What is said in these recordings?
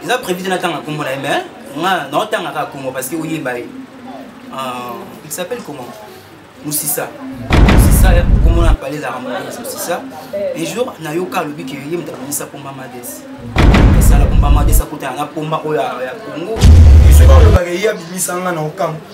eza prévu te natanga nkombo na ye mais nga naotanga kaka nkombo parce que oyeba ye euh, il s'appelle comment musisa musisa nkombo na pale ezalaka moise musisa un jour nayoka alobi ke ye moto abongisa pomba mades esala pomba mades akutana na pomba oyo ya congo soki olobaka ye abimisa nga na okango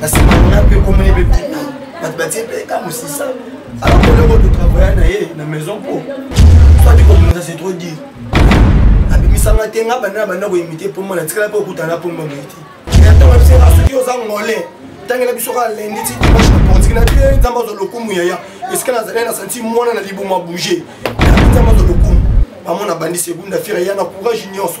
nasimana mpe komona ebe bima bato batie mpe ka mosisa akoloko totravaille na ye na maison po soki kobimisa c'est trop dire abimisanga te nga banda na banda koimite mpo mwana tikala mpe okutana mpo mwa boye te yatanga biso nga soki oza ngole tangela biso kaka lendi ti dimanche na portiki na te nzambe azwa lokumu yaya esika nazali na santi mwana na libumu abouge nzambe azwa lokumu bamona bandi segunda fire ya na courage nyonso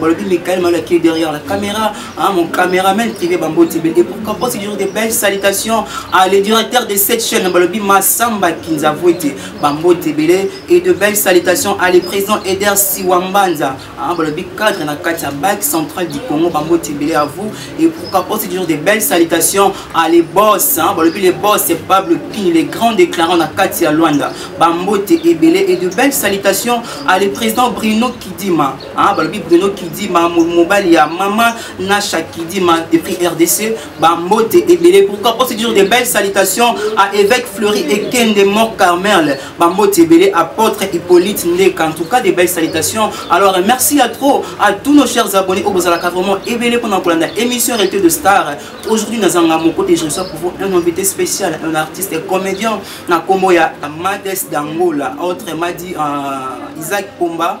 balobi mikael malo qui est derrière la caméra hein, mon caméraman privé bamboti bel et pourquoi pas toujours de belles salutations à le directeur de cette chaîne balobi masamba kinzavwete bamboti ebele et de belles salutations à le président eder siwambanza hein, balobi cadre na kati ya bac central du congo bamboti ebele à vous et pourquoi pas toujours de belles salutations à les boss hein, balobi les boss c'est pablo pini les grands déclarants na kati ya luanda bamboti ebele et de belles salutations à le président bruno kidima Ah, balobi bruno kidima mobali ya mama nasha kidima depuis rdc bambote ebele pourquoi mpo c'est toujours de belles salutations à évêque fleury ekende mort carmel bambote ebele apôtre hippolyte ndeka en tout cas de belles salutations alors merci à trop à tous nos chers abonnés oyo bozalaka vraiment ebele mpona kolanda émission rete de star aujourd'hui nazanga moko te je reçois pour vous un invité spécial un artiste comédien na nkombo ya mades d'angola autre madi euh, isaac pomba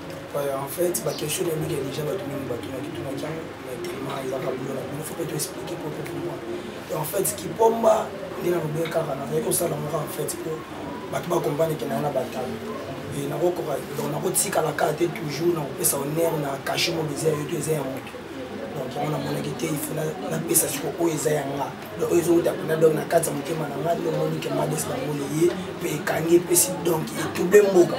en fait baquestion na mingi ya déjà bato mingi batunaki tunaki yango na telema ezaka bulo na bino fope toexplike po tokomwa en fait kipomba nde nalobe kaka nazali kosala moko en fait po bato bakomprane ke nayo na batalo e nakokoka donc nakotikala kaka te toujours nakopesa honneur na kashe mobiza yo to eza ya moto donc yango namonaki te ifo napesa siko oyo eza ya nga donc oyo ezowuta kuna donc na kati ya motema na ngai lomoni ke mades na moni ye mpe ekangi epesi donc etouble mboka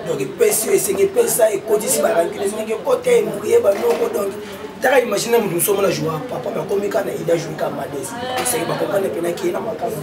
donc epesi esengi epesa ekotisi barankine esengi ekota emoye banoko donc taka imagine moto mosusu omona joa papa bakomi kaka na ida joue ka mades esengi bakompane mpenaki ye na makambo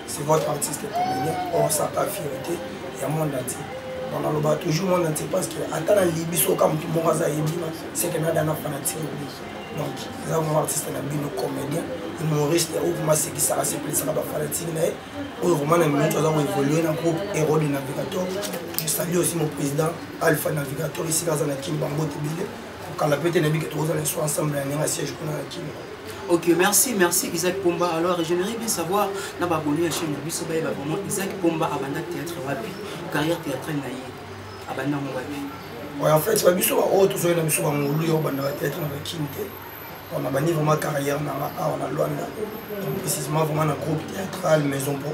c'est votre artiste comédien on sa pas fierté ya monde entier on aloba toujours monde entier parce que ata na libi soka motu moko aza yebima seke nadana fanatique obi donc eza vraiment artiste na bino comédien humoriste oyo vraiment asekisaka sepelisaka bafanatique na ye oyo vraiment na minute aza koévolue na groupe héros de navigateur je salue aussi mon président alpha navigateur esika aza na kimba mbote bile kokala pe te na bike tokozala nso ensemble ya ndenge siège kuna na kimba Ok, merci, merci Isaac Pomba. Alors, j'aimerais bien savoir, na baboni ya chaîne biso ba ba vraiment Isaac Pomba abanda théâtre wapi, carrière théâtrale na ye. Abanda mo wapi. Ouais, en fait, ba biso ba o to na biso ba ngulu yo banda ba théâtre na Kinte. On a bani vraiment carrière na la on a Luanda. Précisément vraiment na groupe théâtral Maison Pro.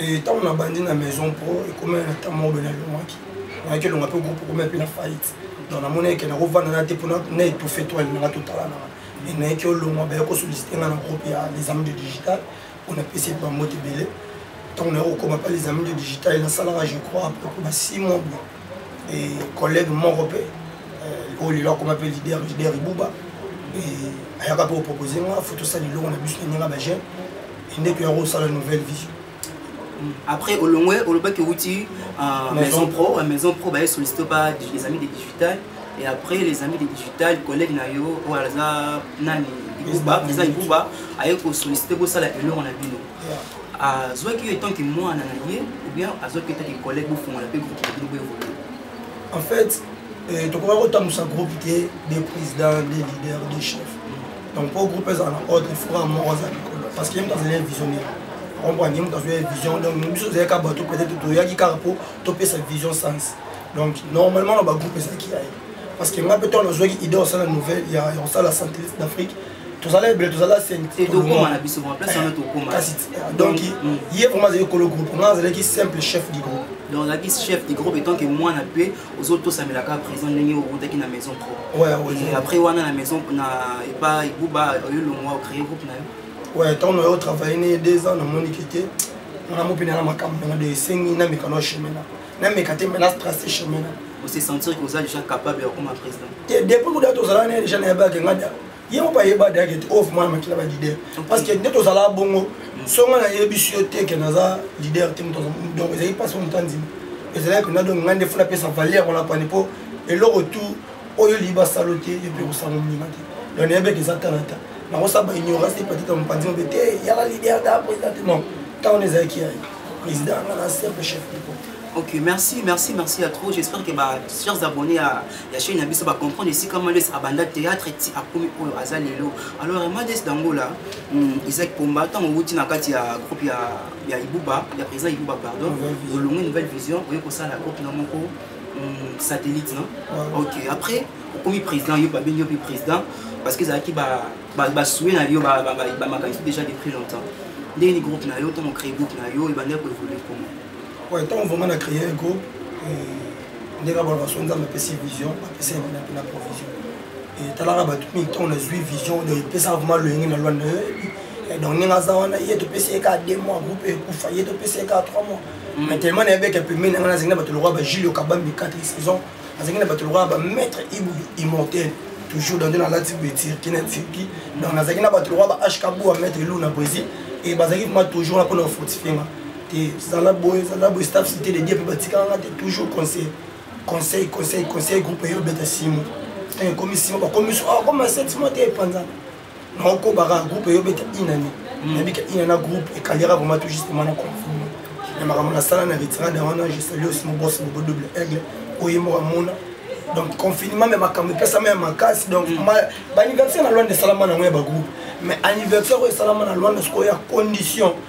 ntango nabandi na maison pro ekomela na ntango moko bene alongwaki nayaki elonga mpe groupe ekomela mpe na faillite donc namoni eke nakovanda na te mpo na étouffe to alingaka totalanaka e nayaki olongwa baye kosollicite nga na groupe ya les amis de digital mpo napesi bambote ebele ntango naye kokoma mpa les amis de digital nasalaka je crois apropos ba six mois boye e collègue moko mpe euh, oyo lelo akoma mpe leader leader ibuba ayaka mpe kopropose nga fo tosala elongo na biso na ndenge ya bajeune nde toya kosala nouvelle vie après olongwe olobaki outi euh, maison pro euh, maison pro baye sollicite pa les amis de digital et après les amis de digital collègue na yo oyo aza nani ibuba président ibuba aye kosollicite bosala elongo na bino azwaki yo etanke mwana na ye ou bien azwaki etanke collègue bofongola mpe groupe na bino boevolue en fait euh, tokoka kotambusa groupe te des présidents des leaders des chefs donc mpo groupe ezala na ordre ifora moko aza likolo parce que ye moto azali visionnaire comprendre ye moto azwa ye vision donc biso ozali kaka bato peut-être toyaki kaka mpo topesa vision sens donc normalement na bagroupe ezalaki ya ye parce que ngai mpe ntango nazwaki idée osala nouvelle ya kosala centriste d'afrique tozala ebele tozala donc mm. ye vraiment azali kolo groupe ngai azalaki simple chef du groupe donc azalaki chef du groupe etant que mwana mpe ozotosamela kaka prison ndenge owutaki na maison propre après wana na maison na epa ebuba oyo longwa ocree groupe na yo ouais ntango na yo travaille ne deux ans namoni ke te nana mopene na makambo nanga de esengi nameka na chemin na nameka te mena strace chemin na ose sentir que oza déjà capable ya kokoma président te depuis kuda tozalaka naye déjà nayebaki nga ye moko ayeba dayake te oyo vraiment na makila ba leader parce que nde tozala bongo mm. songa nayebisi yo te ke naza leader te moto donc ezalaki mpasi moto andima ezalaki mpenza donc ngai nde fo napesa valeur wana pani mpo eloko tout oyo olingi basalo te yo mpe kosanga moninga te donc nayebeke eza talata nakosala ba ignorance te patita mopanzi mobe te yala leader da président te non ntango wana ezalaki ya président anga na simple chef de ok merci merci merci ya trop j'espère que ba chers abonnés ya ya chaine na biso bacomprendre esika mades abanda théâtre ti akomi oyo aza lelo alors mades dangola hmm, isaac pomba ntango owuti na kati ya groupe ya, ya ibuba ya président ibuba pardon olongi nouvelle vision oye kosala groupe na moko hmm, satellite no ok après okomi président yo babengi yo mpe président parce que ezalaki basue na yo bamakanisi déjà depuis longtemps ndenge ni groupe na yo ntango créé groupe na yo ebandaki koévolue comment ntango vraiment na créé groupe euh, ndenge abalaka so nzambe apesi vision apesi ye mpena mpena provision etalaka eh, bato mingi ntango nazwi vision donc epesaka vraimen loyenge na lwa na yo eh, donc ndenge aza wana ye topesi ye kaka deux mois groupe ekufa ye topesi ye kaka trois mois mm. mais tellement nayebeka pemei na ngai nazangi na bato lokola bajulio kabambi quatre saison nazangi na bato lokola bamaître ibu immortel toujours dans nalati boye tirki na tirki donc nazalaki na bato lokola ba hkabua maître lou na brésil e bazalaki vraimen toujours na mpona kofortifie nga te zala boye zala boye staff cité de dieu mpe batikala nga te toujours conseil conseil conseil conseil groupe eyo obeta simo ntango ekomi simo bakomi so akoma ah, set simo te epanzana naokobaka groupe eyo obeta inane hmm. nabika inana groupe ekalera vraimen tout justement na confirme na makambo nasala na retirade wana je salue aussi mobos bobo double aigle oye moko amona donc confinement me makambo epesama ya makasi donc hmm. baanniversaire na lwanda esalama nango ya bagroupe mais anniversaire oyo esalama na lwanda sikoyo ya condition mm.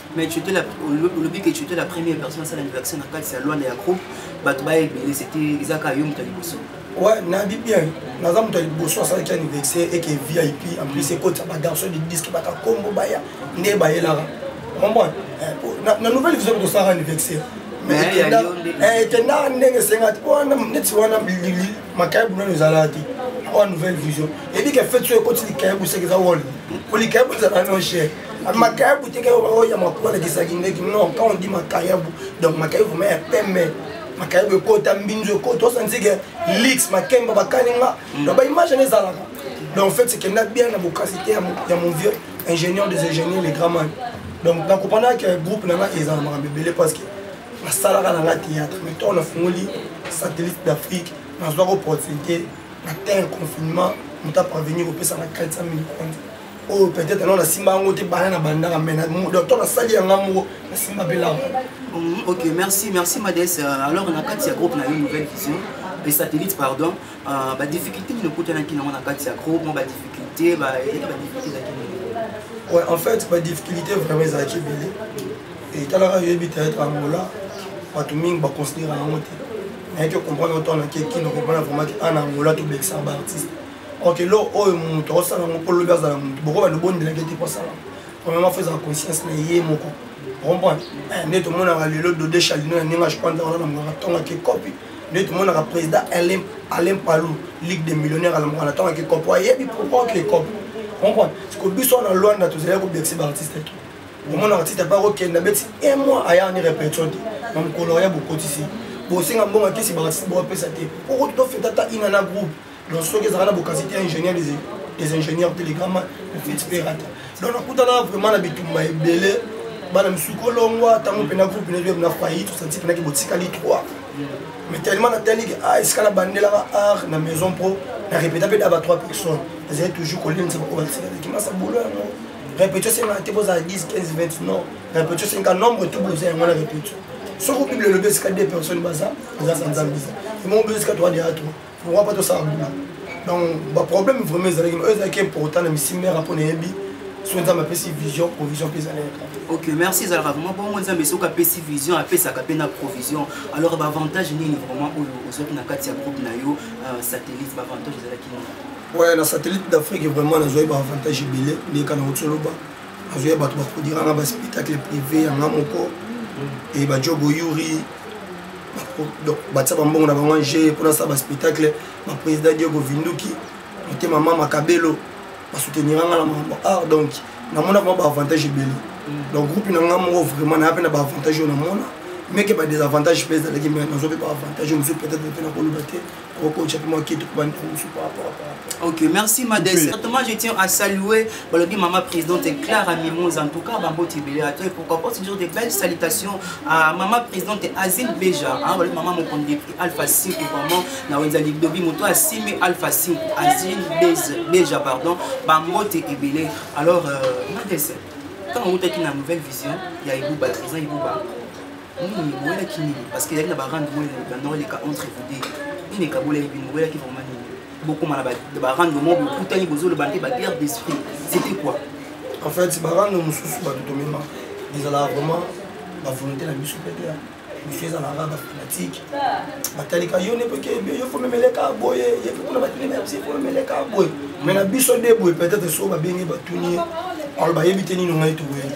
mais tu étais la olobi que tu étais la première personne asala anniversaire na kati ya lwana ya groupe bato baya ebele c'était eza kaka yo moto ya liboso ouais nayebi bien naza moto ya liboso asalaki anniversaire eke vip en plus mm. ekotisa bagarçon de disque baka kombo baya nde bayelaka omoi eh, na nouvelle vision tosalaka anniversaire ekendaka eh, ndenge esengati mpo wana neti wana makaya bunano ezalaka te oya nouvelle vision eyebi ke fete so ekoti likaya buseki eza wol po likaya bozala no chere makayabu te kaka oyo ya makola kisaki ndeki non quand on dit makayabu donc makayabu vraiment ya pembe makayabu ekota mbinzo ekota osantike lix makemba bakani nga mm. donc baimage ane ezalaka donc en fait ekenda bien na bokasi te ya mon vieux ingénieur des ingénieurs les gramman donc nakopana ke groupe na nga eza na makambo ebele parce que nasalaka na nga théâtre mais ntango nafungoli satellite d'afrique nazwaka opportunité na terre confinement moto aparvenir kopesa na 400 000 kwanza oyo oh, peut-être nao nasimba yango te bana na bandaka mai docteur nasali yanga moko nasimba mpe lama mm, ok merci merci mades euh, alors na kati ya groupe na yo nouvelle vision mpe satellite pardon euh, badifficulté nini okutanaki nango na kati ya groupe mo badifficulté badifficulté ezalaki nini ouais en fait badifficulté vraiment ezalaki ebele etalaka yoyebi théâtre angola bato mingi baconsidera yango te nayaki okomprendre otanakeki na comprendre vraiment ke ana angola tobekisa baartiste ok lo oyo moto akosala yango mpo lobi azala moto boko bando bondelaki te kosala premièrement fo ezala conscience na ye moko comprendre eh, nde tomonaka lelo dode chalino ya ndenge ajopanza wana namokaka ntongaki ekopi nde tomonaka président alain palou ligue de millionnaire alamokaka na ntongaki ekopi ayebi pourquoi ke ekopi comprendre siko biso wana lwanda tozalaki kobekisa baartiste te omona artiste apa kokenda beti un mois aya ni répétition te na mokolo ya bokotisi bosenga mbongo akisi baartiste bokopesa te okoki tofeta ata ina na groupe donc soki ezalaka na bokasi te ingénieur des ingénieurs telegrama ofiti mpe rata donc nakutana vraiment na bitumba ebele bana misusu kolongwa ntango mpena groupe na na faillite osanti mpenaki botikali 3 mais tellement natali ke a ah, esika nabandelaka art na maison pro na répéta mpe daba 3 personnes ezali toujours kolinisa baoyo batikalaki masa bolo yango répétio esengaka te bozala 10 15 20 non répétio esengaka nombre tout boza yango na répétio soki bible elobi esika 2 personnes baza eza sa nzambe eza emongo biso esika 3 de a 3 pourquoi pas tosala mbula donc baproblème vraiment ezalaki oyo ezalaki important na misi mare mpo nayebi soki nzambe apesi vision provision mpe ezali ok merci ezalaka vraiment bongo nzambe soki apesi vision apesaka mpe na provision alors baavantage nini vraiment oyo ozwaki na kati ya groupe na yo euh, satellite baavantage ezalaki nini ouais na satellite d'afrique vraiment nazwaki baavantage ebele ndeka na otoloba azoya bato baproduira nga baspectacle privé yanga moko e bajogo yuri batia bambongo na bango ange mpo nasala baspectacle baprésident diogo vinduki motema mama kabelo basoutenira nga na makambo art donc namona vraimen baavantage ebele donc groupe na nga moko vraiment naya mpe na baavantage oyo namona meke badesavantage mpe ezalaki me nazo mpe baavantage mosusu peut-être mpe nakoloba te okokotya mpe mwa kete kobanda mosu ok merci madesatoma je tiens à saluer balobi mama présidente clara mimose en tout cas bamboti ebele ato et pourquoi pas toujours des belles salutations à mama présidente azine beja balobi mama mokonzi depute alpha 5 vraiment na wenza lidobi moto asimi alpha 5 azine beja pardon bamboti ebele alors euh, madese ntango outaki na nouvelle vision ya ebuba président ebuba nini boyelaki nini parce que ezali na barande moko bandoko eleka entre vous deux nini ekabolaki bino boyelaki vraiment nini bokoma na barande moko bokutani bozoloba mpe baguerre d'esprit c'était quoi en fait barande mosusu bato tomema ezalaka vraiment bavolonté na biso mpe te biso ezalaka bafanatique batalika yo nepoke yo fomemeleka boye ye mpe kuna batuni na biso fomemeleka boye mais na biso nde boye peut-être so babengi batuni alo bayebi te nini ngai tokoyeli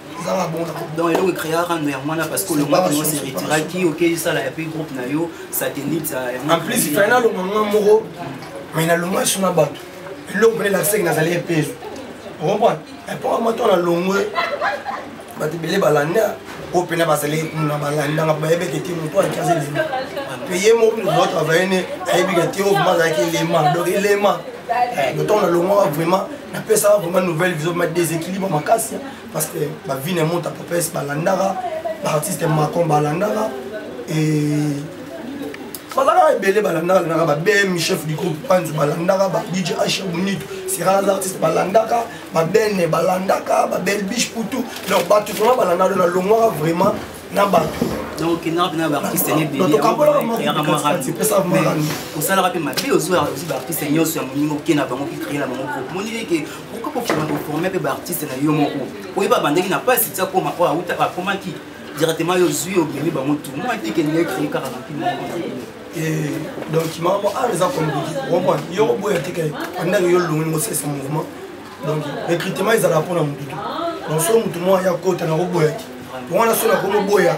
donc eloko ecreaka ndo yango wana parce que olongaki yango se retiraki okei sala ya pe groupe na yo satellite en plus fai nalonga nga moko mai nalonga so na bato eloko mpene lakisaki nazali epeso okomprendre epoka moto nalongwe bato ebele balanda oyo mpena bazali kuna balandanga bayebeke te moto alaki aza elema mpe ye moko mpena ozo travaille ne ayebika te oyo vraimen azalaki elema donc elema eh, ntango nalongwaka vraiment napesaka vraiment nouvelle vision ma déséquilibre makasi parce que ba vie na monta popes balandaka ba artiste macon balandaka et bazalaka ebele balandaka landaka ba bm chef du groupe panzi balandaka ba dj h bonito sera les artistes balandaka ba bene balandaka ba belle biche pour tout donc bato vraiment balandaka na longwaka vraiment na bato osalaka mpe mabe ozwa baartiste nyonso ya moninga okenda bango mpe kreye na bango groupe monileke pourquoi kokima koforme mpe baartiste na yo moko oyeba bandeki na pasi ti akoma oyo awuta akomaki directement yo ozwi obimi bango tu moi te kende ye créer kaka na mpimo moko na bino eh, donc makambo awa eza compliqué omoi yo oboya te ke andaki yo olongoli ngosesa mouvement donc recrutement ezalaka mpo na motu te donc so motu moko aya kota na koboya te wana so nakomi oboya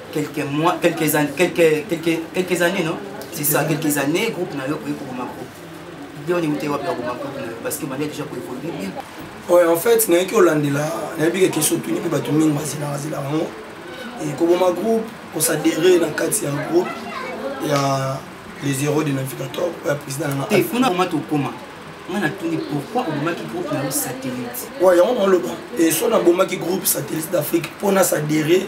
quelques mois quelques années quelques quelques quelques années non c'est ça quelques années groupe na yo koyi koboma groupe nde oni utei wapi ya koboma groupe na yo parce que obandi déjà koévolue bien oyo en fait nayaki olandela nayebi ke question tuni mpe bato mingi bazelaka zelaka yango koboma groupe kosadere na kati ya groupe ya les héros de navigateur ya président na nga kuna koma tokoma nga natuni pourquoi obomaki groupe na yo satellite wa yango naoloba eso nabomaki groupe satellite d'afrique mpo nasadere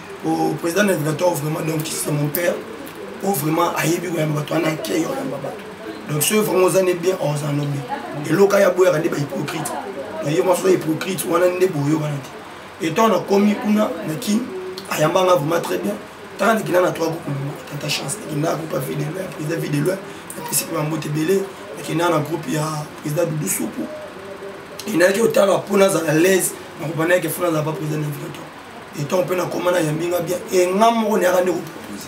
au président navigateur vraiment donc c'est mon père oyo vraiment ayebi koyamba bato wana ake oyamba bato donc soki vraiment oza nde bien oza no bien eloka ya boyaka nde bahypocrite donc ye mwasi oza hypocrite wana nde boyokana te etant nakomi kuna na kin ayamba nga vraiment très bien tala nakenda na trois groupe tata chance nakenda groupe ya vie de loin président vie de loin napesi mpe bambote ebele nakenda na groupe ya président dudu supu enayaki otala mpo nazala laise nakobandaki efo nazala pa président navigateur etant mpe nakoma na yambi nga bien e nga moko nayaka nde kopropose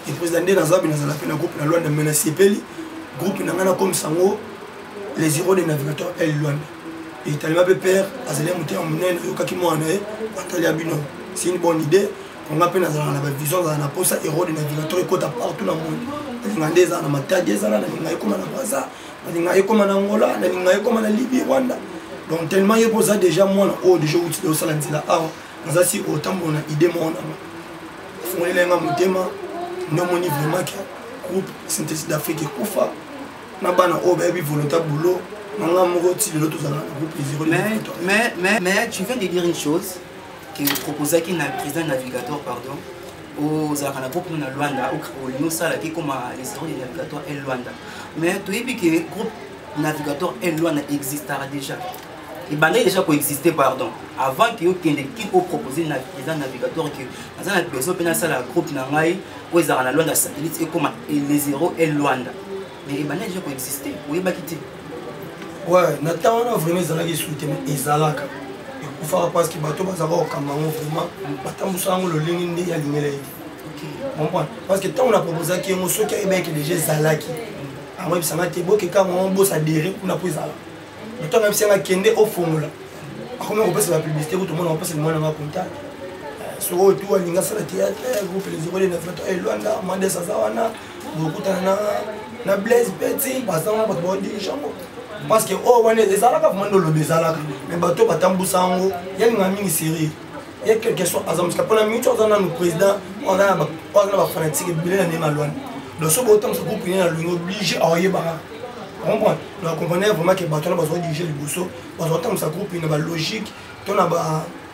e président nde naza bi nazala mpe na groupe na lwanda mai nasepeli groupe na ngai nakomisa yango les héros de navigateur el lwanda etalema mpe père azali ya motema monene oyokaki mwana na ye atali ya bino c'est une bonne idée nga mpe nazalaka na bavision azala na mposa héros de navigateur ekota partout na monde elinga nde ezala na matadi ezala na linga ekoma na braza nalinga ye koma na angola nalinga ye koma na libye rwanda donc tellement ye mpo oza déjà mwana oyo déjà outi osala nzela awa naza si otambola na idée moko nanga afongolela nga motema nde omoni vraiment ke groupe synthèse d'afrique ekufa na bana oyo bayebi volonta boulot nanga moko ti lelo tozalaka na groupe mais, mais, mais, mais tu viens de dire une chose que proposaki na président navigateur pardon ozalaka na groupe na luanda olingi osalaki ekoma les héros de navigateur el luanda mais toyebi ke groupe navigateur el luanda existaka déjà ebandaki déjà koexiste pardon avant ke okende ki opropose na président navigateur ke aza na besoin mpe nasala groupe na ngai oyo ezalaka na luanda satellite ekoma les héros el luanda mais ebandaki déjà koexiste oyebaki te ouais na temps wana vraiment ezalaki esu te mais ezalaka ekufaka parce que bato bazalaka kokamba yango vraiment batambusaka yango lolenge nde alingela ye comprendre parce que ntango na proposaki yango soki ayebaki deja ezalaki yango ebisanga te bokeka yango bosa dere kuna mpo ezala ntango ayebisanga kende ofongola akomi kopesa bapublicité kutu omona kopesa limwana nga contact eh, soko oyo tu alinga asala théâtre eh, groupe les ekolena fata elwanda eh, mandes aza wana bokutana na na blaise peti bazanga bato baodirige yango parce que oyo oh, wana ezalaka vraimen ndoloba ezalaka mais bato batambusa yango yalinga mingi serie ye quelque soit aza mosika mpona mingi ti aza nanu président oyo aza na bafanatique ebele na ndenge alwani donc so botambusa groupe ine na longi oblige aoyebaka comprendre donc comprendre vraiment ke bato wana bazodirige liboso bazotambusa groupe ine balogique to na ba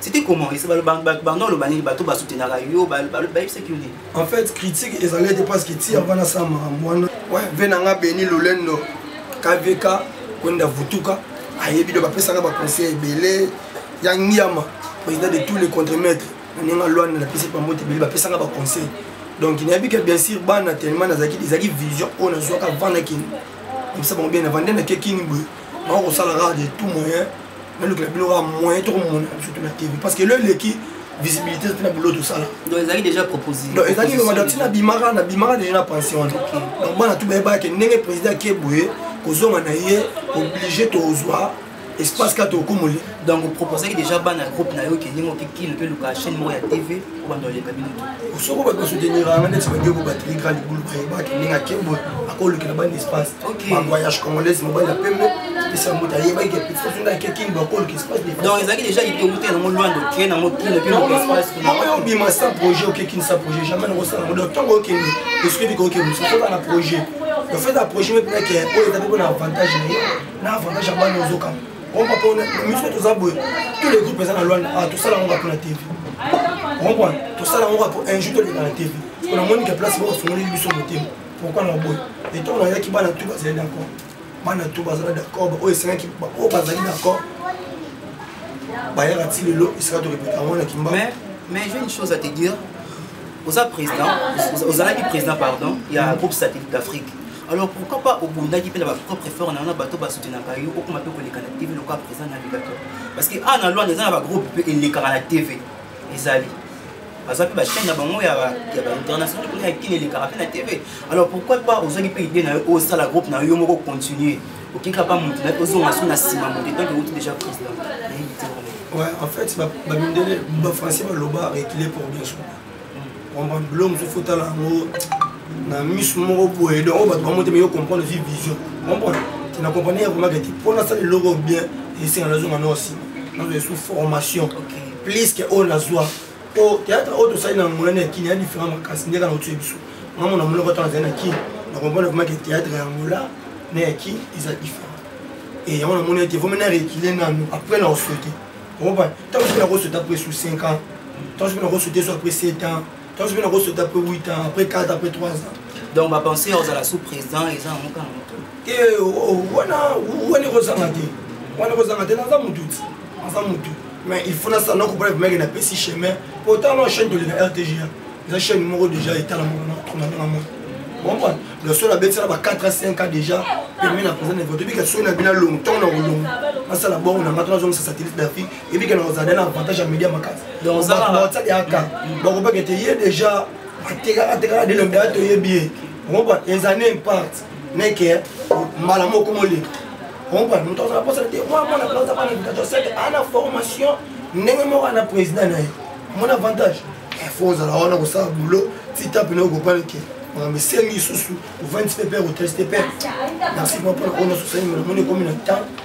c'était comment ese banda oloba nini bato basutenaka yo bayebisaki yo nini en fait critique ezali ete parce que ti avana sa makambo wana ve na nga beni lolendo kvk kwenda vutuka ayebi do bapesaka baconseil ebele ya ngiama président de tous les contremaîtres na ndenge alwana napesi bango te ebele bapesaka baconseil donc nayebi ke bien sûr bana tellement nazalaki ezalaki vision oyo nazwaka vanda kini komisa bango bien na vanda nakekini boye bako kosala kaka de tout moyen nalukela bino kaka moyen toko mona biso to na tv parce que lelo eleki visibilité mpe na boulot tosala donc ezalaki déjà proposé donc ezalaki loba donc tina bimaka na bimaka déjà na pension wana donc bana tu bayebaka ke ndenge président ake boye kozonga na ye obligé tozwa espace kaka tokomoli donc oproposaki déjà bana ya groupe na yo ke ndenge okikile mpe luka chaîne moko ya tv obanda oleka bino to soko bato basouteniranga neti badeko bateli grand libulu bayebaka ndenge ake boye akolukela bana espace bagoyage congolaise mobali ya pembe epesa moto ayebaki ke petit funda ake kin bakolo kespace donc ezalaki déjà litongo te nango loin de train nango kina kina kespace mama yo obima sans projet oke kin sans projet jamais nango sala nango donc ntango okende esukeli koke mosu soka na projet le fait ya projet me mpena ke oyo eza mpe mpo na avantage na ye na avantage ya bana ozokama ompa mpo miso toza boye tous les groupes eza na lwana ah, tosala yango mpo na tv ompa tosala yango mpo un jour toleka na tv mpo namoni ke place moko afungoli biso motema pourquoi na boye etongo nayaki bana tu bazali d'accord bana tu bazala d'accord baoyo esengaki baoyo bazali d'accord bayaka ti lelo esika torepeta yango na kimba mais j'ai une chose à te dire oza président ozalaki président pardon ya groupe satellite d'afrique alors pourquoi pas obundaki mpe na bapropre effort na yo na bato basutenaka yo okoma mpe koleka na tv lokola président navigateur parce que awa na lwanda eza na bagroupe mpe elekaka na tv ezali baza mpe bachaine na bango ya bainternational kuna ya kini elekaka mpe na tv alors pourquoi pas ozwaki mpe idée na yo osala groupe na yo yo moko continue okika mpa motu na ozonga so na nsima motu donc euti déjà président Ouais, en fait, babindele bafrançais baloba rekile pour bien soba comprendre bilo mosusu fotala yango na miso moko boye donc oyo bato bamotema yo comprendre ozwi vision comprendre te na comprendre ya komaka te mpo nasala eloko bien esenga nazonga nao nsima nazo esu formation plus que oyo nazwa po théâtre oyo tosali na monene ya kini ya différent makasi nde kaka otie biso mamona monoko ntango azali na kini na comprendre vraiment ke théâtre ya angola na ya kini eza différent e yango namoni ete vomi na rekile nanu après na osote okoba ntango soki nakosota après sous 5 ans ntango soki nakosota so après 7 ans Tansu pe nako sauter après 8 ans, après 4, après 3 ans. Donc ba penser ozala sous président eza na mokano moto. Eh oh, oh, wana wana ekozanga te. Wana ekozanga te naza mutu ti. Naza mutu. Mais il faut na sana ko pona mec na pesi chemin. Pourtant non chaîne de la RTG. Eza chaîne moko déjà etala moko na kuna na moko. Comprendre? Le seul abeti na ba 4 à 5 ans déjà. Permis na présent na vote. Bika sona bina long temps na long. Asala bon na matona zong sa satellite d'Afrique. ebike na ozala na avantage ya media makasi baotsali aka bakobaka ete ye déjà atekaka tekaka delonge ya toyebi ye okoba ezane impart neke mbala moko moleka okoba moto azala mposana te mwa mwana plaza bana education sete ana formation ndenge moko ana président na ye mon avantage fo ozala wana kosala bulo titape nayo kopanike makambo esengi lisusu ovandisi mpe mpe koteste mpe merci mwa mpona oyo na sosani mona moni ekomi na temps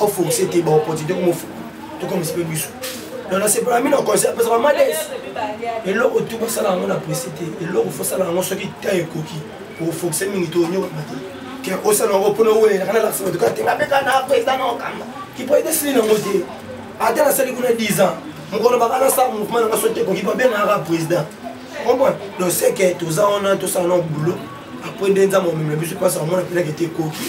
o force te ba opportunité ko mofu to comme se biso na na sepela mi na conseil parce que mades eloko tu ba sala ngo na presse te eloko faut sala ngo soki ta ekoki ko force mingi to nyo ba te ke o sala ngo pona wele na la sala to ka te ngabe kana president na okamba ki president sili na ngo te ata na sali kuna 10 ans mokolo bakana sa mouvement na nga soki ekoki babengaka président comprendre donc c'est que toza wana tosala na boulot après nde nzambe omemela biso mpasi amona mpenaka ete ekoki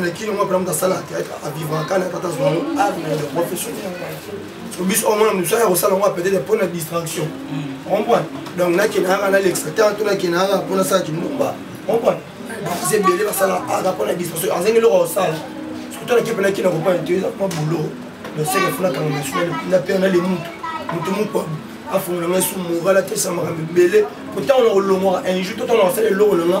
na kino mwa pelamuta asala théâtre avivaka kala tata azwa yango art na le professionnel so biso omona mosu aya kosala yango peut-être mpo na distraction comprendre donc nakende yaka nalekisa temps to nakende yaka mpo nasala kindumba comprendre baza ebele basala art mpo na distraction azangi eloko kosala surtout na kipe nakina kopana te eza mwa boulot donc seke fo nakanga mosu na pere na le mutu mutu mokwa afongola ngai su moral atesa makambo ebele mpo ntango na kolongwaka un jour to ntango nakosala eloko na nga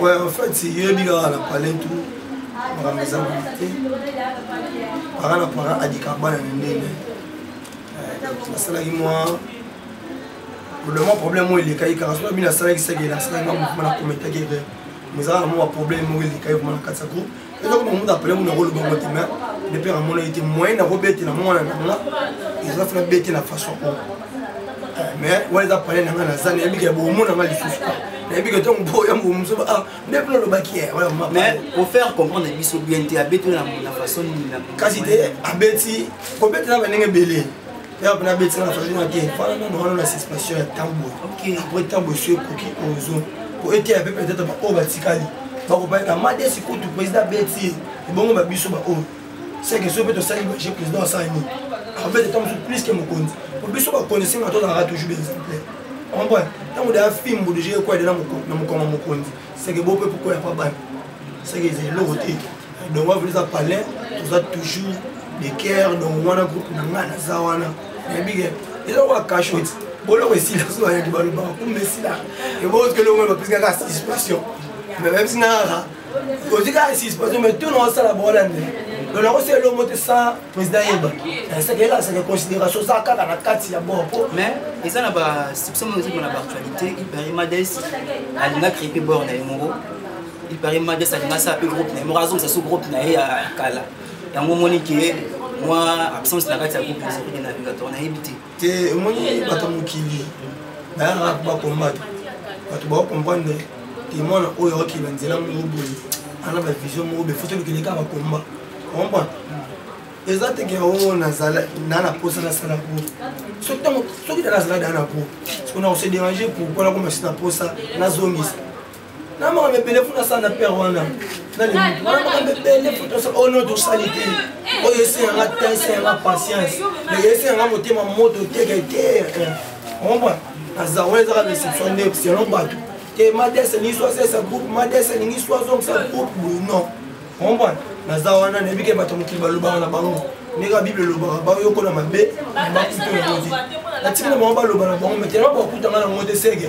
Ouais, en fait, si yo yebi kaka na palais tout makambo eza boye te para na para adika bana na ndenge nasalaki mwa lolema problème oyo elekaki kaka soki abi nasalaki seke nasalaki nga mouvement na kometaki re mais ezalaka mwa baproblème moko elekaki vraimen na kati ya groupe eza koma mutu apele mutu akoloba ngo te mais le père amona ye te moyen nakobetela mwana na nga eza fana betela façon oyo eh, mais wana eza pale na nga naza nayebi ke bomona nga lisusu nayebi ke ntango bo ya momusu ah, nde mpe nalobaki ye mais ofaire comprendre biso bien te abetela na façon nini kasi te abeti kobetela bandenge ebele yaya mpena abetisaka na fazina te fana nano wana na suspension ya ntango apres ntango esi ekoki ozo po eteya mpe peut-être baoyo batikali bakopaki na madesi kutu président abeti ebongo ba biso baoyo seke so mpe tosali baje président asala nini abeti ntango mosusu plus ke mokonzi po biso bakonzi esenga tozalaka toujours baexemplaire comprendre ntango deya fimbu deja ekwede na mokoma mokonzi seke bo mpe pokoya pa bana seke eza eloko te donc wana eza palais toza toujours de cœur donc wana groupe na ngai naza wana nayebike eza kwa cachot boloko esila so ayaki balobaka kumba esila ebokelongo bapesi kaka participation mais même si naka ozi kaka participation mais to naosala bowana nde donc nakosala elongo te sans président yeba nasekeyela seke considération oza kaka na kati ya bor po mais eza na ba stipsio moko ezokima na baactualité iparimades alinga crépe bor na ye moko il paraît mades alinga asala mpe groupe na ye moko azongisa so groupe na ye ya kala yango omoni ke mwa absence na kati ya groupe ezokende na vigatoire nayebi te te omoni bato ya mokili bayaka bakombata bato bakokomprendre te mwana oyo akokeba nzela moko boye ana bavision moko boye foto lokende kaka bakomba omba eza teke yango nazala na na posa nasala po soki ntango soki tala azala daa na po sikoyo nakose dérange pourkoi nakoma si na posa nazongisa na makambo ebele mpo nasala na pere wana makambo ebele mpo tosala oyo noto osali te oyo esi yanga ta esi yanga patience mais esi yanga motema moto teke te omba naza wana ezaka reception nde selon bato te mades elingi so asalisa groupe mades elingi so azongisa groupe boye non omba naza wana nayebi ke bato mokili balobaka na bango ndenge bible elobaka bayokola mabe na bakutu na bango te natikala bango baloba na bango metena bakutanga na bango te seke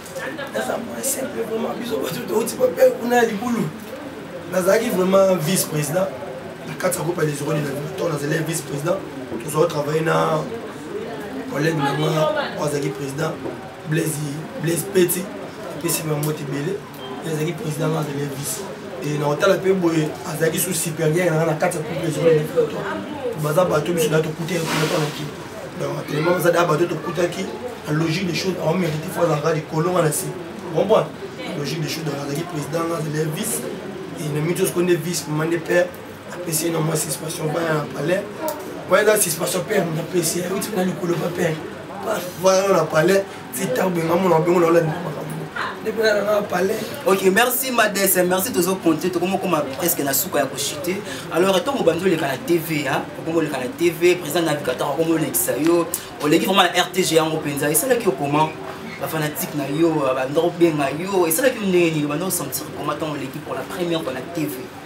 naza moyen simple vraiment biso bato touti bape kuna ya libulu nazalaki vraiment vice président na kati ya groupe ya les urone na to nazalaki vice président tozalaki travaille na collègue na nga oyo azalaki président blaise peti epesi bango te ebele azalaki président nga azalaki vice e na kotala mpe boye azalaki su supérieur nanga na kati ya groupe les urone baza bato biso na tokutaki kuna to na kini donc atelema baza da bato tokutaki na logique des choses aomérite fo azalaka likolo nga na se comprendre logique des choses donc azalaki président nga azali vice et na mito soko nde vice mama nde père apesi ye na mwa suspension baya na palais po eza suspension père moto apesi ye euti na likolo pa père voilà na palais tita obenga mona obengo na olandi ok merci madese merci tozo compte tokomi okoma presque na suka ya kochute alors ntango obandi oleka na tv okomi oleka na tv président navigateur okomi olekisa yo oleki vraiment na rtg yango mpenza esalaki yo comment bafanatique na yo banda obenga yo esalaki yo ndenge nini banda osentir comment ntango oleki pour la première fois na tv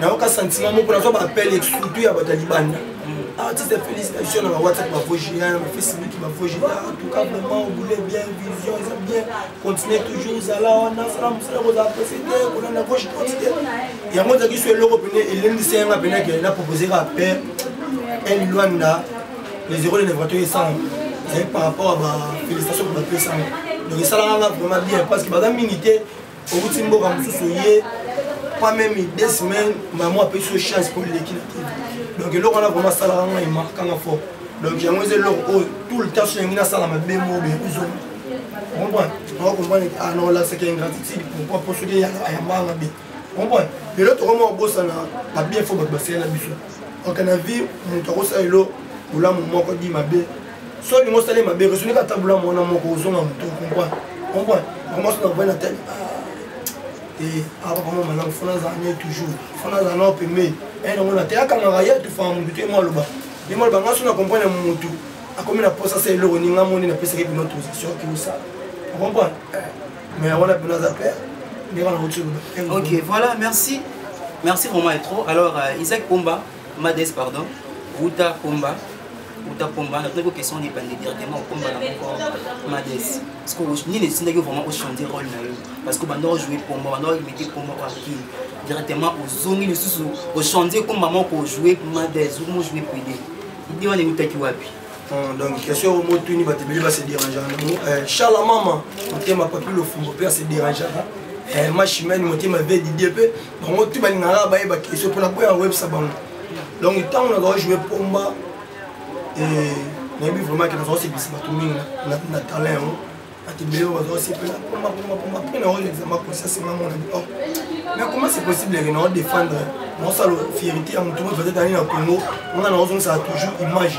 nayoka sentiment moko nazwa baappel esutu ya bato ya libanda artiste ya félicitation na bawhatsapp bavogia na bafacebook bavogia entouka vraiment obule bien vision eza bien continue toujours zala wana sala mosala kozala presete kolanda gauche droite te yango ezalaki so eloko pene elendisi yanga pene ke na propose kaka père el luanda les euros de nevrato esanga ezali par rapport ya bafélicitation ko bapesanga donc esalaka nga vraiment bien parce que baza mingi te owuti mboka mosusu oye pas même deux semaines mama apesi yo chance mpo leki na te donc eloko wana vraimen asalaka ngai emarkanga fort donc yango eza eloko oyo tout le temps so yangi nasala mabe moo be ozonga comprendre nao comprendre ah non là c'est que ingratitude pourquoi mpo soki ayambanga be comprendre lelo tokoma obosana babien fo bato basele na biso donc na vie moto akosala elo bolamu moko di mabe so olingi osala ye mabe resunika ata bula mwana moko ozonga moto comprend comprend makomasi na kovai na tani apapa mwa malamu fona azala naye toujours fona azala nao pemei aye nango na te akangaka ye atufanga motu te ye mwaloba ye mwaloba nga so na comprendre motu akomi na posa sa eloko ni nga moni napesaki bino autorisation ki osala okomprendre mais yango na bino aza pere ndenge na kotoloba ok voilà merci merci vraiment etro alors euh, isaac pomba Mades pardon, uta pomba uta pomba natunaki ko question libandi directement okomba na moko mades parceque nini esindaki vraiment ochange role na yo parce que banda ojoue pomba banda oimite pomba oyo akili directement ozongi lisusu ochange ekomba moko ojoue mades omojoue pede ide wana eutaki wapi oh, donc question oyo motuni bato ebele base dérangeaka nango eh, shala mama motema papi lofumbo mpe ase dérangeaka eh, machimene motema ve didie mpe bango te balingaka bayeba kesio mpo naboya koyebisa bango donc ntango nazala joue pomba eh, nayebi vraiment ke nazala kosepelisa bato mingi na talent yango bato ebele oyo bazala kosepela pomba pomba pomba mpe na oyo examen kosi asenga mona bi or mais comment c'est possible ke nao défendre naosala fierité ya moto moto azali na congo nga naozongisaka toujours image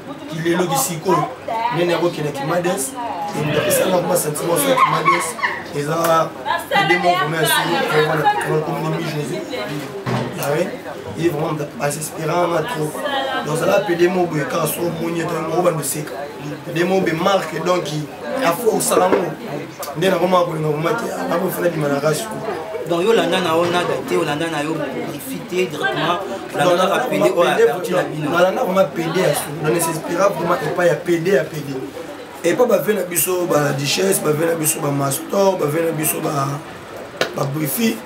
kileloki sikoyo nene akokende kimades apesanga kuma sentiment so kimades eza edemo vraiment yasokomona mi jésus awe ye vraiment moto asespéranga trop donc ozala pede moboye kaka so omoni etango obanda oseka pede mobe marke donc afo osala ngo nde nakoma kolinga koma te nako fana bima na rasu donc yo olanda na yo nada te olanda na yo brifi te directement olanda kaka pede oyo aperti na bino nalanda koma pede ya su na nesespera vraimen epai ya pede ya pede epai bave na biso baduchesse bave na biso bamastor bave na biso babrifi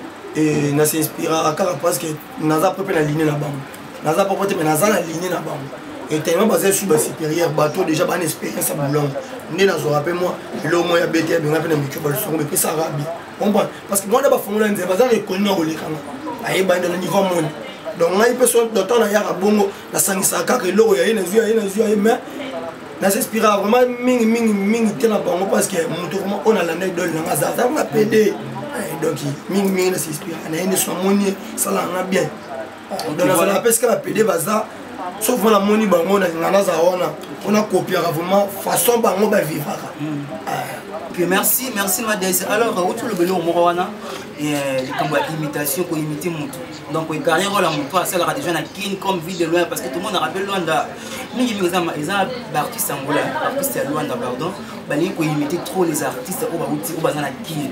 na s'inspiraka kaka parce que naza mpe mpe na ligne na bango naza poko te me naza na ligne na bango etellement baza esu ba supérieur bato déjà bana expérience ya bolongo nde nazwaka mpe mwa eloko moko ya bete ya benga mpe na mikio balosongo bepesaka bi comprendre parce que mwana bafongola nzela baza rekoni na kolekanga ayebani na niveau moni donc ngai mpe so dotan nayaka bongo nasangisaka kaka eloko ya ye nazwi ya ye nazwi ya ye mais nasinspiraka vraiment mingi mingi mingi te na bango parce que moto vraiment oyo nalanda idole nanga aza aza nga pede eh, donc mingi mingi nasinspiraka na ye nde so amoni esalaka nga bien nazala mpe esika bapede baza soki mpona moni bango nalinga naza wana mpona kopiaka vraiment façon bango bavivaka hmm. eh. merci merci madese alors outi olobeli yo moko wana eh, likambo ya imitation koimite motu donc ecarrière oyo ya motu asalaka déjà na kin comme vie de loin parce que tomonaka mpe lwanda mingi mingi eza baartiste angola artiste ya lwanda pardon balingi koimite trop les artistes oyo bauti oyo baza na kin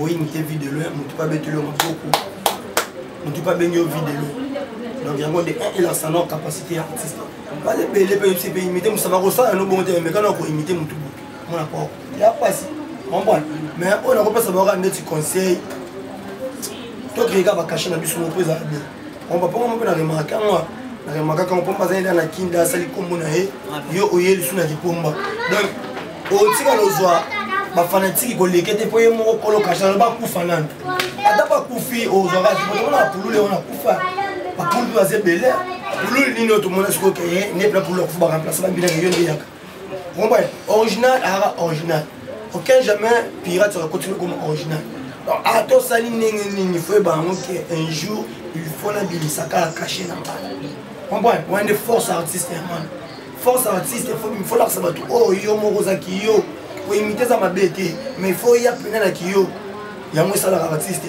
oyini te vie de loin motu mpe abeteli yo maboko motu mpe abengi yo vie de loin donc yango nde eh, elakisa nao capacité ya artiste baza ebele mpe yebisi mpe imite mosa bakosala yango bongo te bamekana koimite motu botu mona pao ya mpasi ombona mais oyo nakopesa baoka ndeti conseil tokeyeka bakashe na biso moko ezala bien omba mpo moko na remarke yango na remarke yango mpomba azali na kinda asali nkombo na ye yo oye lisu na lipomba donc otikala ozwa bafanatiki koleke te mpo ye moko kolo kashana bakufa nanu ata bakufi ozwaka tomona bapulule wana akufa bapulule baza ebele pulule nini oyo tomona sikoyo ke nde pula pulule akufa baramplace babinaka yo nde yaka original ara original aucun jamais pirate va continuer comme original donc ah, atosali ndenge nini fo yeba yango ke un jour il faut nabimisa kaka cache na ngai comprendre wana nde force artiste ya mwana force artiste fo lakisa bato oyo oh, yo moko oza kiyo koimite eza mabe te mais fo ya mpena na kiyo yango esalaka artiste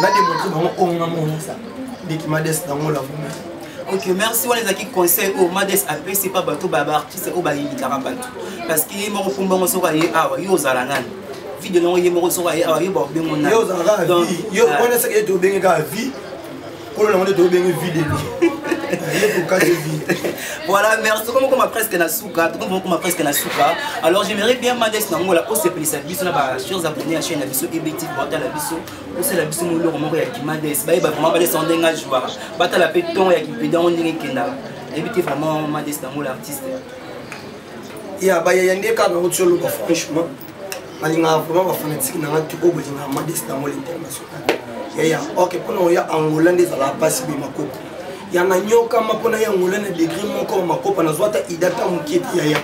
na demontre bango oyo nga monisa ndeki mades nango la vuma ok merci wana ezalaki conseil oyo mades apesi mpa bato baartiste oyo bayindikaka bato parce que ye moko kumbango soki aye awa yo ozala nani video nango ye moko soki aye awa yo baobengo nani yo ozala kaka vie yo wana seke ete obenge kaka vie kolo nango nde tobenge vide voilà merci soki mokoma presque na suka tokomi mokoma presque na suka alors j'aimerais bien mades na ngola osepelisa biso na bachers abonné ya chaîne na biso ebectif batala biso osala biso moloko moko ya kimades bayeba vraiment bades yango ndenge ajwaka batala mpe ntongo ya kipeda yango ndenge ekendaka nayebi te vraiment mades na ngola artiste ya bayaya nde kaka otioloba franchement nalingaka vraiment bafanatike na ngai tuko bolingaka madesi na mole international yaya ok mpona oya angola nde ezalaka mpasi boye makopo ya nanyokama mpona ya angola na degre moko ya makopa nazwa ata idata moke te yaya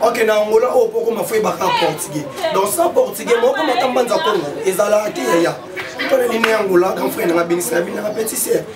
ok na angola oyo mpo okoma fo yebaka portugais donc sans portugais moko matambanza kongo ezalaka te yaya mpona nini ya angola grand frère nanga benisi na bino nanga petit sere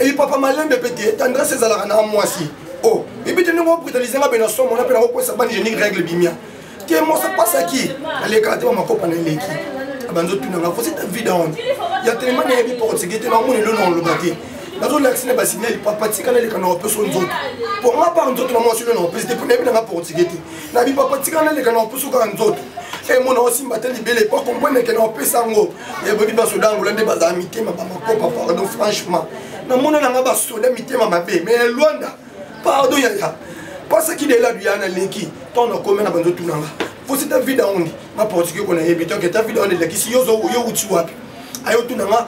eyi papa malembe mpe te tendresse ezalaka na mwasi o oh, ebi te ndenge obritalise nga mpe na somo na mpe nakokwesa bani genie règle bimia te mosa pasaki alekaka te bamakopa na eleki abanzi otuna nga fosi ta vida wana ya telema na yebi portugais te namoni elo na oloba te nazolakisi na basignali papa tika naleka na opesa o nzoto mpo nga par nzoto na mwasi elo na opesi te mpo nayebi nanga portugais te nabi papa tika naleka na opesa kaka nzoto emona osimba te libele po akomprene ke na opesa yango eboni basoda angola nde bazala mitema bamakopa pardon franchement namona nanga basoda mitema mabe mais elwanda pardon yaya pasaki delela duya na leki ntango nakomi na banzo tunanga posi ta vida ondi ma portugais kona yebi toke ta vida ondi elekisi yo uti wapi ayo tunanga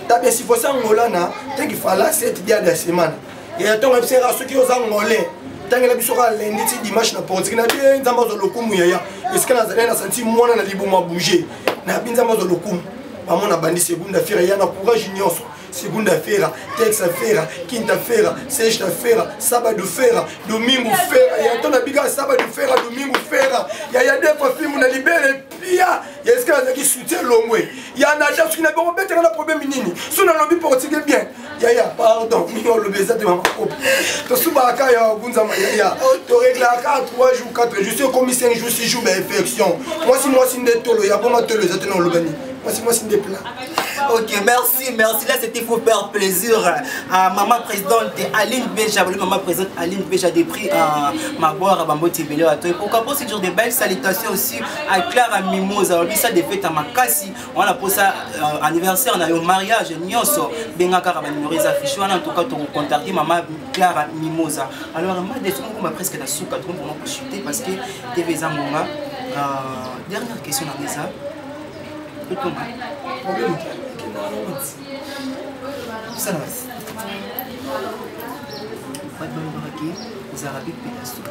tabesifosi angola na teki fala seti dia da semana ya ntongo yebisa yaka soki oza ngole tangela biso kaka lendi ti dimanche na portiki na bie nzambe azwa lokumu yaya esika nazali na santi mwana na libumu abouge na bi nzambe azwa lokumu bamona bandi segunda fera ya na courage nyonso segunda fera texa fera quinta fera sexta fera sábado fera domingo fera ya nto na bika sábado fera domingo fera ya ya defa fimu na libele pia ya esika nazalaki soutien longwe ya na ja soki na boko betaka na problème nini so nalobi portugais bien yaya pardon mingi olobi eza te mama kopi tosubaka kaka ya ogunzama yaya toreglaka kaka 3 jours 4 jours ekomi 5 jours 6 jours bainfection mwasi mwasi nde tolo ya bongo tolo eza te na oloba nini mwasi mwasi nde plat Ok, merci, merci. Là, c'était pour faire plaisir à maman présidente Aline Beja, maman présidente Aline Beja des prix à Maboire, à Bambo Tibélé, à toi. Pourquoi pas, c'est toujours des belles salutations aussi à Clara Mimosa, on dit ça des fêtes à Makassi. wana posa uh, anniversaire na yo mariage nyonso benga kaka banimero eza fiche wana ntoka tokocontacte mama clara mimosa alors ma defi mokoma presque na suka tokompona kochute parce que tv eza ngonga uh, dernière question nanga eza totonga bato balobaki ozalaka bipe ya suka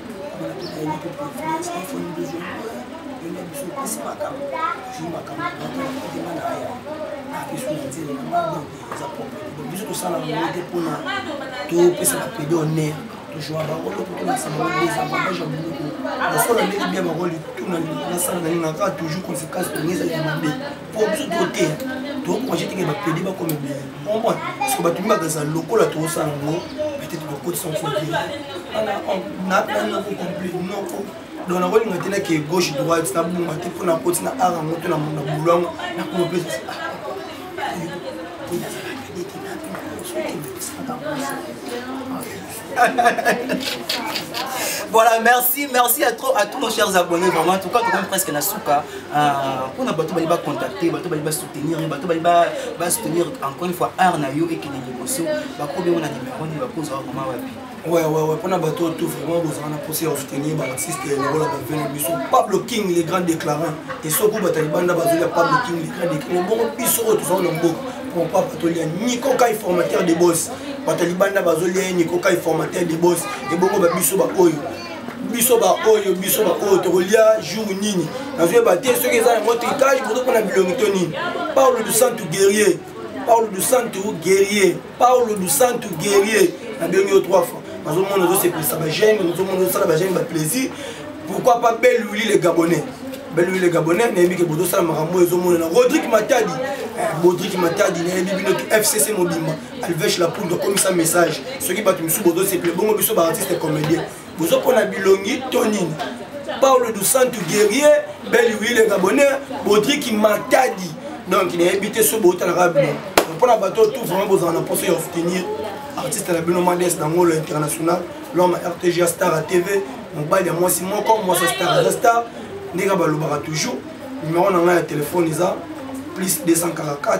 biso tosala mote mpona topesa bapede honneur tozwa bango loko tolakisa bango eza bagage ya biloko lokola ndenge bia bango lituna nasala na nini naka toujours conséquence tongezali ya mabe po biso toteya tokokomaje teke bapede bakoma ebele comprendre parceke bato mibaka eza lokola tokosala yango peut-être bakotisa mosusu naanoko complet noko donc nakolinga te nake gauche droite nabonga te mpo nakoti na ar yango to na bulu yango nakoma mpe voilà merci merci à trop à tous nos chers abonnés vraiment en tout cas tokomi presque na suka mpona euh, bato bali bacontacte bato bali basoutenir ye bato bali basoutenir encore une fois art na yo ekende liboso bakomi yango na nimero nini bakozwa vraiment wapi Ouais, ouais, ouais, pona bato tout vraiment bozala na posi ya soutenir baartiste lokola bavene biso pablo king le grand déclarant et soko batali banda bazoli ya pablo king le grand déclarant bongo biso oyo tozala na mboka mpo papa tolia nico kai formateur de boss bato ya libanda bazolia ye niko kai formateur libos ebongo babiso baoyo biso baoyo biso baoyo tokolia jour nini nazoyeba te soki eza yango tricage bozo mpona bilongi to nini paulo du santu guerrier paulo du santu guerrier paulo du santu guerrier nabengi yo trois fois nazomona ozosepelisa bagene nazomona ozosala bagene baplaisir pourquoi pas belle wili le gabonais belle wili le gabonais nayebi ke bozosala makambo oyo ezomonana rodrik matadi eh, rodrik matadi nayebi bino fcc mobimba alvesh lapundu akomisa message soki bato mosusu bozosepele bongo biso baartiste comédien bozopona bilongi to nini paulo du santo guerrier beli wile gabonais bodriki matadi donc nayebi te so bootalaka bino mpona bato tout vraiment bozala na mposo ya oftenir artiste na bino mades na ngolo international lome rtg ya star ya tv mobali ya mwasi moko mwasi ya star aza star ndenge balobaka toujours numero na ngai ya telefone eza plus 244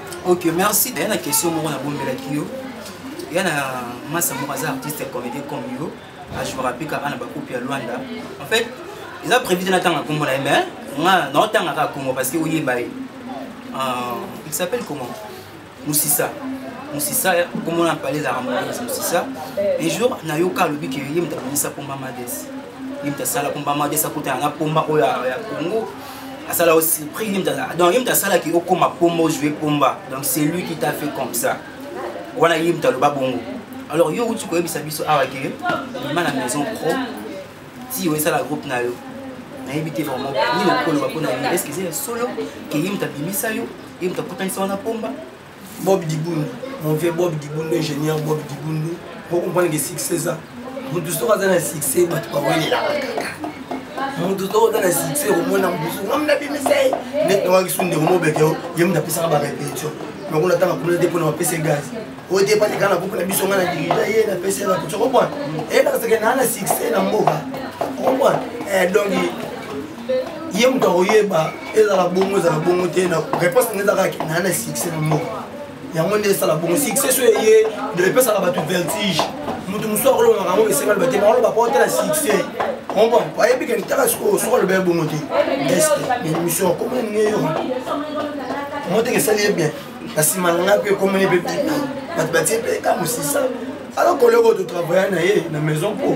ok merci ya na question moko nabombelaki yo ya na masa moko aza artiste comédien comme yo ajouaka mpe kaka na bakupe ya lwanda en fait eza prévu te natanga nkombo na ye mais nga naotanga kaka nkombo parce que oyeba ye euh, il s'appelle comment musisa musisa nkombo na pale ezalaka moise musisa un jour nayoka alobi ke ye moto amonisa pomba mades ye moto asala pomba mades akutana na pomba oyo ya congo asala aussi prix ye moto asala donc ye moto asalaki okoma pomba ojoue pomba donc c'est lui qui t'a fait comme ça wana ye moto aloba bongo alors yo outi koyebisa biso awa ke bima na maison pro ti yo esala groupe na yo nayebi te vraiment nini okoloba mpo na ye est ce que eza ya solo ke ye moto abimisa yo ye moto akutanisa wana pomba bob dibundu mon vieux bob dibundu ingénieur bob dibundu okomprendre ke succès eza motu soki aza na succès bato bawelelaka kaka motu soki oza na succès okomona mosu ngam nabimisa ye ndeti nawakisu ndeko mobeke o ye moto apesaka barepetition nakuna ntanga kuna te mpona bapese gaz oyo te epati kaka na groupe na biso ngai na dirija ye napesi na kutu okomprendre eyebakaseke naa na succès na mboka okomprendre eh, donc ye moto akoyeba ezala bongo ezala bongo te na réponse nde ezaka naa na succès na moko yango nde esala bongo succès so eye epesaka bato vertige moto mosusu akolongaka yango esenga loba te bakoloba po te na succès omba ayebi kende taka sikoyo soki aloba ye bongo te este émission akomona ndenge yo moteke esali ye bien na nsima na ngai mpe ekomona ye mpe bato batie mpe ka mosisa alors koleko totravaille na ye na maison po